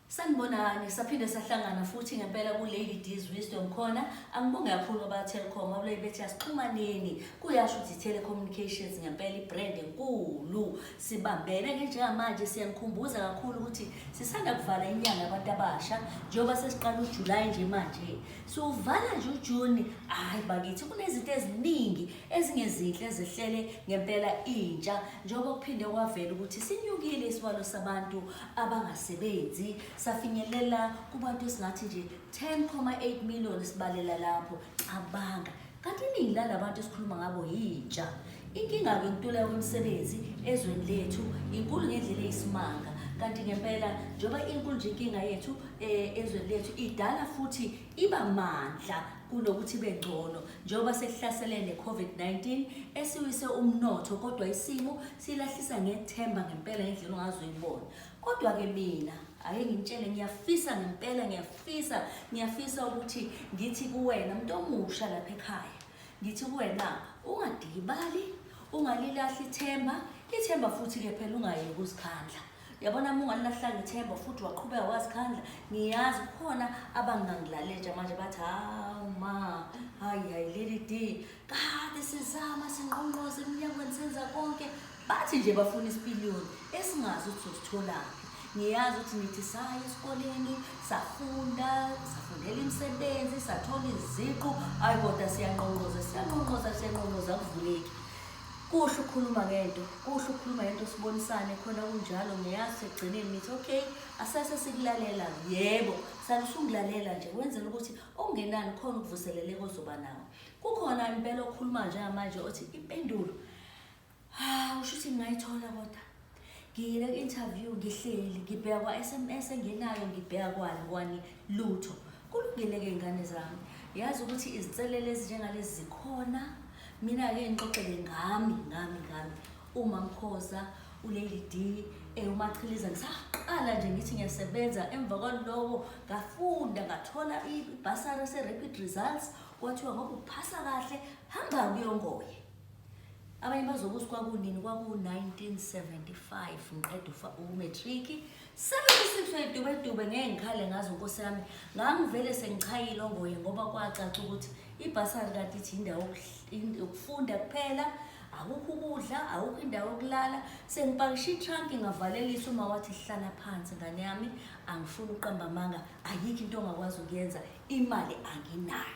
Sanibonani, saphinde sahlangana futhi ngempela ku-Lady D's Wisdom khona. Angibonge kakhulu aba-Telkom, abulayi bethi asixhumaneni. Kuyasho ukuthi i-telecommunications ngempela i-brand enkulu. Sibambene ke njengamanje siyanikhumbuza kakhulu ukuthi sisanda kuvala inyanga yabantu abasha njengoba sesiqala uJulayi nje manje. Siwuvala nje uJuni, hhayi bakithi kunezinto eziningi ezingezinhle zihlele ngempela intsha njengoba kuphinde kwavela ukuthi sinyukile isibalo sabantu abangasebenzi safinyelela kubantu esingathi nje 10,8 million sibalela lapho cabanga kanti iningi lalabantu esikhuluma ngabo yintsha inkinga-ke yokuntuleka kwemisebenzi ezweni lethu inkulu ngendlela eyisimanga kanti ngempela njengoba inkulu nje inkinga yethu um ezweni lethu idala futhi iba mandla kunokuthi ibe ngcono njengoba sekuhlasele ne-COVID-19 esiwise umnotho kodwa isimo silahlisa ngethemba ngempela ngendlela ongazoyibona kodwa-ke mina ake ngimtshele ngiyafisa ngempela ngiyafisa ngiyafisa ukuthi ngithi kuwena mntu omusha lapha ekhaya ngithi kuwena ungadikibali ungalilahli ithemba ithemba futhi-ke phela ungayeki uzikhandla yabona uma ungalilahlanga ithemba futhi waqhubeka wazikhandla ngiyazi kukhona abangangilaletsha manje bathi hawu ma hayi hayi leli d kade sizama sinqonqoze emnyangweni senza konke bathi nje bafuna isipiliyoni esingazi ukuthi sositholaphi ngiyazi ukuthi nithi saya esikoleni safunda safundela imisebenzi sathola iziqu ayi kodwa siyanqonqoza siyanqonqoza siyanqonqoza kuvuleki Kuhle ukukhuluma ngento, kuhle ukukhuluma ngento sibonisane khona kunjalo ngiyazi sekugcineni nithi okay asese sikulalela yebo sani usungulalela nje wenzela ukuthi okungenani khona ukuvuseleleka ozoba nawo. Kukhona impela okhuluma njengamanje othi impendulo ha usho ukuthi ngingayithola kodwa ngiyile ku-interview ngihleli ngibheka kwa-sms engenayo ngibheka kwani kwani lutho kulungile-ke iy'ngane zami yazi ukuthi izinselelo ezinjengalezi zikhona mina-ke ngixoxele ngami ngami ngami uma mkhoza ulady d eh, umachiliza ngisaqala nje ngithi ngiyasebenza emva kwaloko ngafunda ngathola ibhasari se-rapid results kwathiwa ngoba uphasa kahle hamba kuyongoye Abanye bazobe ukuthi kwakunini kwaku-1975 ngiqeda ufa- umatriki 76 wedubedube ngeke ngikhale ngazo nkosi yami ngangivele sengichayile ongoye ngoba kwacaca ukuthi ibhasari kanti ithi indawo yokuhl- in- yokufunda kuphela akukho ukudla akukho indawo yokulala sengipakishe itranki ngavalelisa uma wathi hlala phansi ngane yami angifuni ukuqamba amanga ayikho into ongakwazi ukuyenza imali anginayo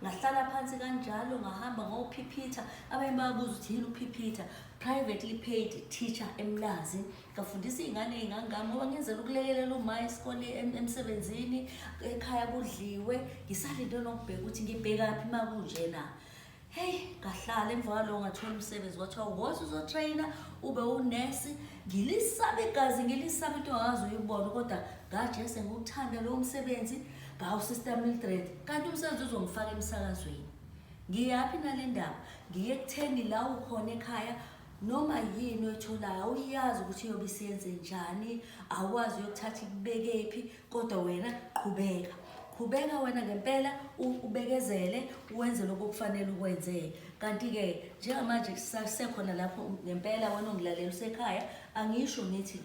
ngahlala phansi kanjalo ngahamba ngophiphitha abanye babuza ukuthi yini uphiphitha privately paid teacher emlazi ngafundisa iy'ngane ey'ngangami ngoba ngenzela ukulekelela uma isikole emsebenzini ekhaya kudliwe ngisalinde nokubheka ukuthi ngibhekaphi uma kunjena heyi ngahlala emva kwalowo ngathola umsebenzi kwathiwa wothi uzotrayina ube unesi ngilisaba igazi ngilisaba into ngazi uyibona kodwa ngajese ngiwuthanda lowo msebenzi Hawu sister Mildred, kanti umsebenzi uzongifaka emsakazweni. Ngiyaphi nale ndaba? Ngiye kutheni la ukhona ekhaya noma yini oyitholayo awuyazi ukuthi iyobe isiyenze njani, awukwazi uyokuthatha ikubekephi kodwa wena qhubeka. Qhubeka wena ngempela u- ubekezele wenze lokho okufanele ukwenze. Kanti-ke njengamanje sisasekhona lapho ngempela wena ongilalela usekhaya angisho ngithi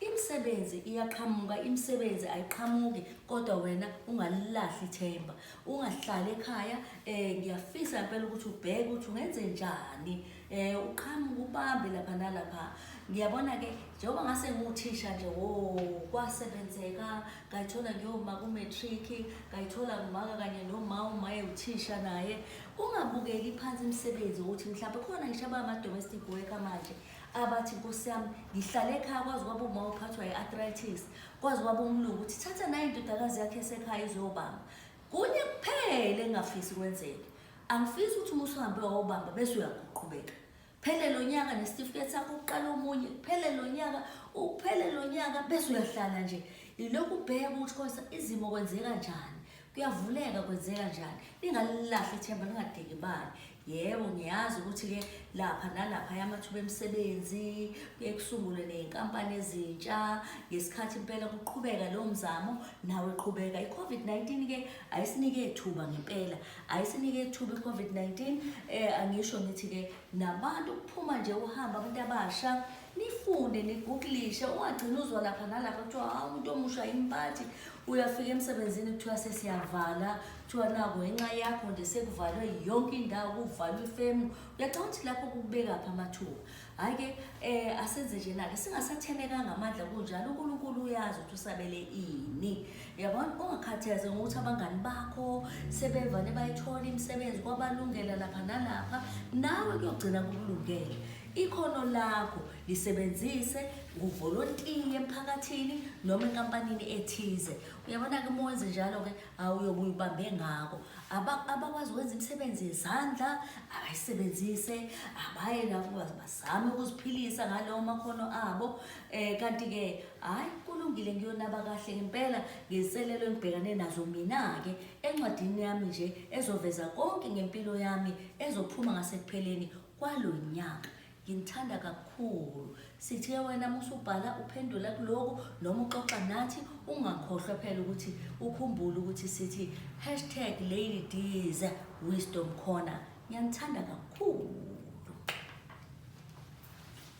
Imisebenzi iyaqhamuka, imisebenzi ayiqhamuki kodwa wena ungalilahli ithemba. Ungahlali ekhaya eh ngiyafisa impela ukuthi ubheke ukuthi ungenze njani. Eh uqhamuke ubambe lapha nalapha. Ngiyabona ke njengoba ngase nguthisha nje wo kwasebenzeka ngayithola ngiyoma ku matric ngayithola ngimaka kanye noma umaye uthisha naye ungabukeki phansi imisebenzi ukuthi mhlawumbe khona ngisho abama domestic worker manje abathi nkosi yami ngihlale ekhaya kwazi kwaba uma uphathwa i-arthritis kwazi kwaba umlungu ukuthi thatha nayo indodakazi yakhe esekhaya izobamba kunye kuphele engafisi kwenzeke angifisi ukuthi uma usuhambe wawubamba bese uyakuqhubeka phele lo nyaka nesitifiketi sakho uqala omunye phele lo nyaka uphele lo nyaka bese uyahlala nje ilokhu ubheka ukuthi konsa izimo kwenzeka njani kuyavuleka kwenzeka njani ningalilahli ithemba ningadeki bani yebo ngiyazi ukuthi-ke lapha nalapha yamathuba emisebenzi kuye kusungulwe ney'nkampani ezintsha ngesikhathi impela kuqhubeka leyo mzamo nawe qhubeka i-covid-19-ke ayisinike thuba ngempela ayisinike thuba i-covid-19 um eh, angisho ngithi-ke nabantu kuphuma nje uhamba abantu abasha nifunde niguglishe ungagcina uzwa lapha nalapha kuthiwa hawu umuntu omusha yimpathe uyafika emsebenzini kuthiwa sesiyavala kuthiwa nako ngenxa yakho nje sekuvalwe yonke indawo kuvalwe ifemu uyacanga ukuthi lapho kubekaphi amathuba hhayi-ke um asenze nje nake singasathenekanga amandla kunjalo unkulunkulu uyazi ukuthi usabele ini yabona ungakhatheze ngokuthi abangani bakho sebevane bayithola imisebenzi kwabalungela lapha nalapha nawe kuyogcina kukulungele Ikhono lakho lisebenzise nguvolontiye emphakathini noma enkampanini ethize. Uyabona-ke uma wenze njalo-ke awuyobe uyibambe ngako. Aba- Abakwazi ukwenza imisebenzi yezandla abayisebenzise, abaye lapho baz- bazame ukuziphilisa ngalawo makhono abo. Um kanti-ke hhayi kulungile ngiyonaba kahle ngempela ngezinselelo engibhekane nazo mina-ke encwadini yami nje ezoveza konke ngempilo yami ezophuma ngasekupheleni kwalo nyaka nginithanda kakhulu sithe wena musubhala uphendula kuloku noma uxoxa nathi ungakhohlwa phela ukuthi ukhumbule ukuthi sithi hashtag lady diz wisdom corner ngiyanithanda kakhulu